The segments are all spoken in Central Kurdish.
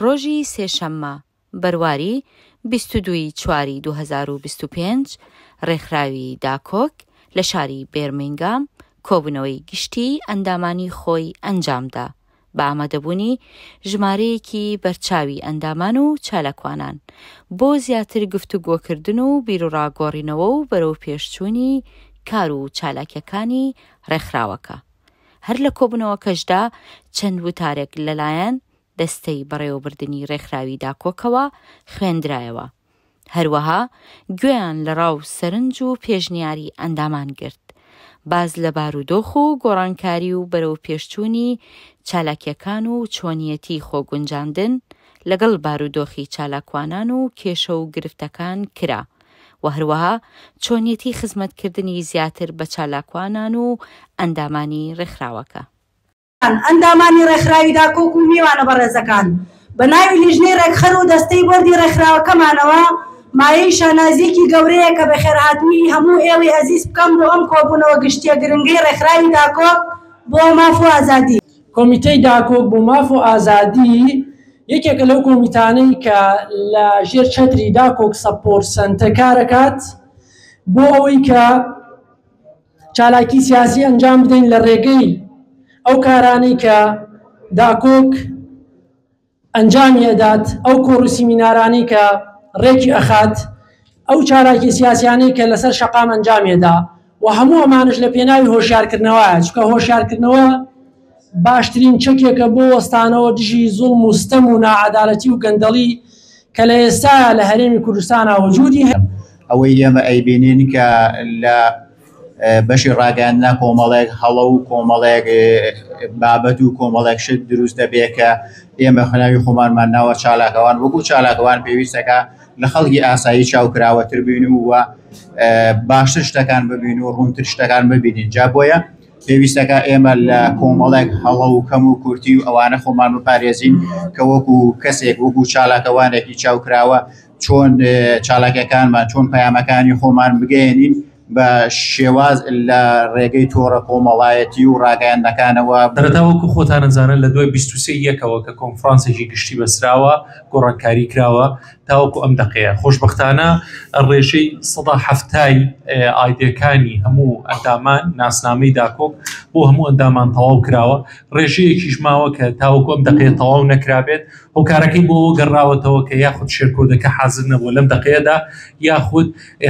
ڕۆژی سێشەممە، بەرواری بیست و دوو ی چواری دوو هەزار و بیست و پێنج، ڕێکخراوی داکۆک لە شاری بێرمینگام کۆبوونەوەی گشتیی ئەندامانی خۆی ئەنجامدا. بە ئامادەبوونی ژمارەیەکی بەرچاوی ئەندامان و چالاکوانان بۆ زیاتر گفتوگۆکردن و بیروڕا گۆڕینەوە و بەرەوپێشچوونی کار و چالاکیەکانی ڕێکخراوەکە هەر لە کۆبوونەوەکەشدا چەند وتارێک لەلایەن دەستەی بەڕێوەبردنی ڕێکخراوی داکۆکەوە خوێندرایەوە. هەروەها گوێیان لە ڕا و سەرنج و پێشنیاری ئەندامان گرت، باس لە بارودۆخ و گۆڕانکاری و بەرەوپێشچوونی چالاکییەکان و چۆنیەتی خۆگونجاندن لەگەڵ بارودۆخی چالاکوانان و کێشە و گرفتەکان کرا و هەروەها چۆنیەتی خزمەتکردنی زیاتر بە چالاکوانان و ئەندامانی ڕێکخراوەکە. ئەندامانی ڕێکخراوی داکۆک و میوانە بەڕێزەکان، بە ناوی لیژنەی ڕێکخەر و دەستەی بۆردی ڕێکخراوەکەمانەوە مایەی شانازییەکی گەورەیە کە بەخێرهاتنی هەموو ئێوەی ئەزیز بکەم بۆ ئەم کۆبوونەوە گشتییە گرنگەی ڕێکخراوی داکۆک بۆ ماف و ئازادی. کۆمیتەی داکۆک بۆ ماف و ئازادی یەکێکە لەو کۆمیتانەی کە لە ژێر چەتری داکۆک سەپۆرت سەنتە کارەکات بۆ ئەوەی کە چالاکی سیاسی ئەنجام بدەین لە ڕێگەی ئەو کارانەی کە داکۆک ئەنجامی ئەدات ئەو کۆڕ و سیمینارانەی کە ڕێکی ئەخات ئەو چالاکی سیاسیانەی کە لەسەر شەقام ئەنجامێدا و هەموو ئەمانش لە پێناوی هۆشیارکردنەوەیە چکە هۆشیارکردنەوە باشترین چەکێکە بۆ وەستانەوە دژی زوڵم و ستەم و ناعەدالەتی و گەندەڵی کە لە ئێستایا لە هەرێمی کوردستانا وجودی هەیە. ئەوەی ئێمە ئەیبینین کە لە بەشی ڕاگەیاندنا کۆمەڵێک هەڵە و کۆمەڵێک بابەت و کۆمەڵێک شت دروست دەبێت کە ئێمە خناوی خۆمانمان ناوە چالاکەوان وەکو چالاکەوان پێویستەکە لە خەڵکی ئاسایی چاوکراوەتر بین و باشتر شتەکان ببین و ڕوونتر شتەکان ببینین جا بۆیە پێویستەکە ئێمە لە کۆمەڵێک هەڵە و کەم و کورتی و ئەوانە خۆمان بپارێزین کە وەکو کەسێک وەکو چالاکەوانێکی چاوکراوە چۆن چالاکەکانمان چۆن پەیامەکانی خۆمان بگەێنین بە شێواز لە ڕێگەی تۆڕە کۆمەڵایەتی و ڕاگەیاندەکانەوە دەرەتاوەکو خۆتانەزانن لە دوای بیست و سێ یەکەوە کە کۆنفرانسێکی گشتی بەسراوە گۆڕانکاری کراوە تاوەکو ئەم دەقەیە خۆشببختانە ڕێژەی سەدا هەفتای ئایدەکانی هەموو ئەندامان ناسنامەی داکۆک بۆ هەموو ئەندامان تەواو کراوە ڕێژەیەکیش ماوە کە تاوەکو ئەم دەقەیە تەواو نەکرابێت هۆکارەکەی بۆ گەڕاوەتەوە کە یاخود شێرکۆدەکە حازر نەبوو لەم دەقەیەدا یاخود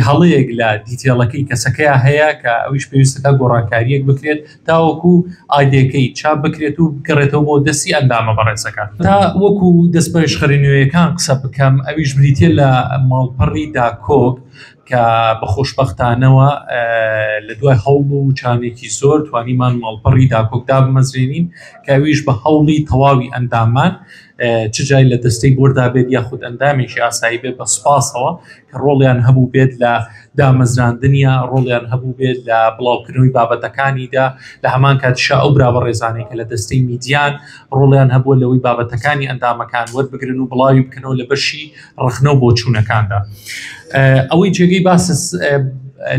هەڵەیەک لە دیتێڵەکەی کەسەکەیان هەیە کە ئەویش پێویستەکە گۆڕانکاریەک بکرێت تاوەکو ئایدێکەی چاپ بکرێت و بگەڕێتەوە بۆ دەستی ئەندامە بەڕێزەکان. تا وەکو دەستپەرێشخەری نوێیەکان قسە بکەم، ئەویش بریتیە لە ماڵپەڕی داکۆک کە بە خۆشبەختانەوە لە دوای هەوڵ و چانێکی زۆر توانیمان ماڵپەڕی داکۆک دابمەزرێنین کە ئەویش بە هەوڵی تەواوی ئەندامان چ جای لە دەستەی بۆردا بێت یاخود ئەندامێکی ئاسایی بێت بە سوپاسەوە ڕۆڵیان هەبوو بێت لە دامەزراندنیا ڕۆڵیان هەبوو بێت لە بڵاوکردنەوەی بابەتەکانیدا لە هەمان کاتشا ئەو برا بە ڕێزانێک کە لە دەستەی میدیان ڕۆڵیان هەبووە لەوەی بابەتەکانی ئەندامەکان وەربگرن و بڵاوی بکەنەوە لە بەشی ڕخنەوە بۆ چوونەکاندا ئەوەی جێگەی باس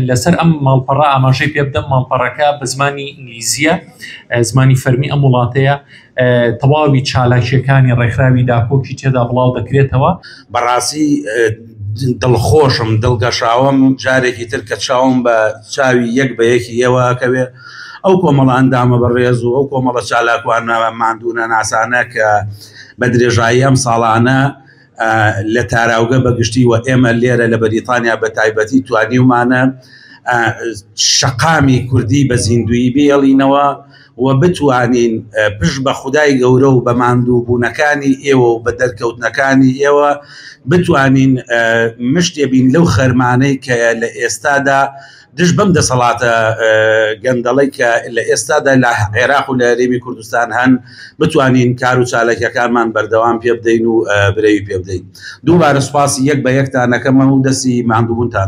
لەسەر ئەم ماڵپەڕە ئاماژەی پێ بدەم ماڵپەڕەکە بە زمانی ئینگلیزیە زمانی فەرمی ئەم وڵاتەیە تەواوی چالاکیەکانی ڕێکخراوی داکۆکی تێدا بڵاو دەکرێتەوە بەڕاستی دڵخۆشم دڵگەشاوم جارێکی تر کە چاوم بە چاوی یەک بە یەکی ئێوەکەوێ ئەو کۆمەڵە ئەندامە بەڕێز و ئەو کۆمەڵە چالاکوانە مادونە ناسانە کە بە درێژایی ئەم ساڵانە لە تاراوگە بە گشتی و ئێمە لێرە لە بەریتانیا بە تایبەتی توانیومانە شەقامی کوردی بە زیندوی بێڵینەوە و بتوانین پشت بە خودای گەورە و بە ماندوو بوونەکانی ئێوە و بە دەرکەوتنەکانی ئێوە بتوانین مشتێ بین لەو خەرمانەی کە لە ئێستادا دژ بەم دەسەڵاتە گەندەڵی کە لە ئێستادا لە عێراق و لە رێمی کوردستان هەن بتوانین کار و چالەکەکانمان بەردەوام پێ بدەین و برەوی پێ بدەین دووبارە سوپاسی یەک بە یەکتانەکەمە و دەسی ماندووبوونتان